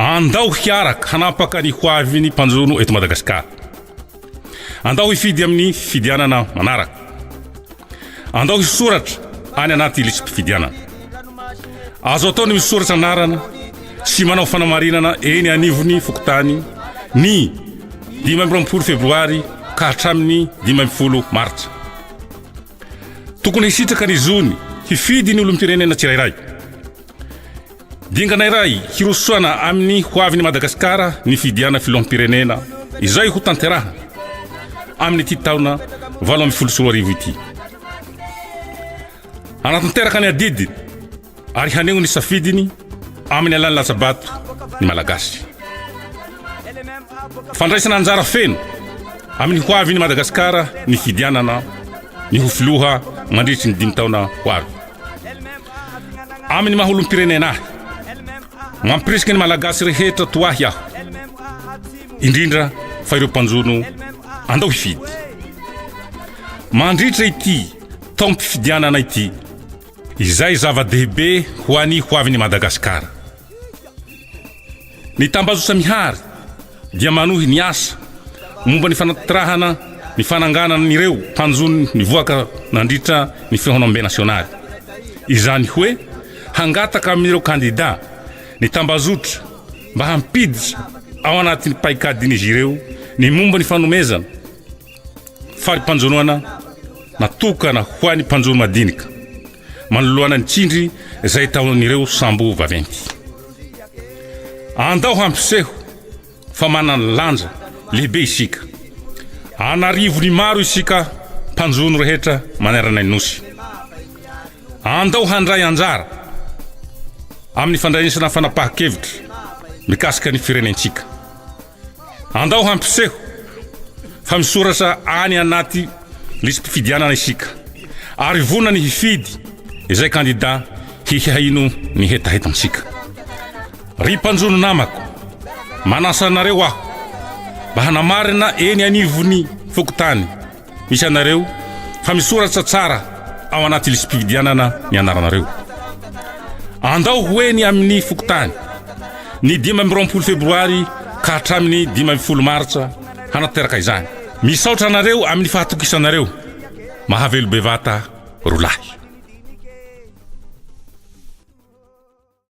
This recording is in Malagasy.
Andao hiaraka hanapaka ny hoavin'ny mpanjono eto Madagasikara. Andao hifidy amin'ny fifidianana manaraka. Andao hisoratra any anaty lisi-pifidianana. Azo atao ny misoratra anarana sy manao fanamarinana eny anivon'ny fokontany ny dimy amby roapolo febroary ka hatramin'ny dimy ambin'ny folo martsa. Tokony hisitraka ny zony hifidy ny olom-pirenena tsirairay. Dingana iray hirosoana amin'ny ho avin'i Madagasikara ny fidiana filoham-pirenena izay ho tanterahana amin'ity taona valo ambin'ny folo sy roa arivo ity. Hanatanteraka ny adidiny ary haneho ny safidiny amin'ny alalan'ny latsa-bato ny Malagasy. Fandraisana anjara feno amin'ny ho avin'i Madagasikara ny fidianana ny ho filoha mandritry ny dimy taona ho avy. amin'ny maha olom-pirenena ahy mampirisika ny malagasy rehetra to ahy aho indrindra fa ireo mpanjono andao hifidy mandritra ity taom-pifidianana ity izay zava-dehibe ho any ho avin'ny madagasikara Ny tambajotra mihary dia manohy ny asa momba ny fanatrahana ny fananganana ireo tanjony nivoaka nandritra ny fihaonambe nasionaly. Izany hoe hangataka amin'ireo kandida ny tambajotra mba hampiditra ao anatin'ny paikadin'izy ireo ny momba ny fanomezana fari-panjonoana natokana ho an'ny mpanjono madinika. manoloana ny tsindry izay ataon'ireo sambo vaventy. Andao hampiseho fa manana lanja lehibe isika. An'arivony maro isika mpanjono rehetra manerana ny Nosy. Andao handray anjara amin'ny fandraisana fanapahan-kevitra mikasika ny firenentsika. Andao hampiseho fa misoratra any anaty lisi-pifidianana isika ary vonona ny hifidy izay kandida hihaino ny hetahetantsika. Ry mpanjono namako, manasa anareo aho mba hanamarina eny anivon'ny fokontany. Misy anareo fa misoratra tsara ao anaty lisi-pifidianana ny anaranareo. Andao ho eny amin'ny fokontany, ny dimy amby roapolo febroary ka hatramin'ny dimy ambin'ny folo martsa hanatanteraka izany. Misaotra anareo amin'ny fahatokisanareo. Mahavelo bevata roa lahy.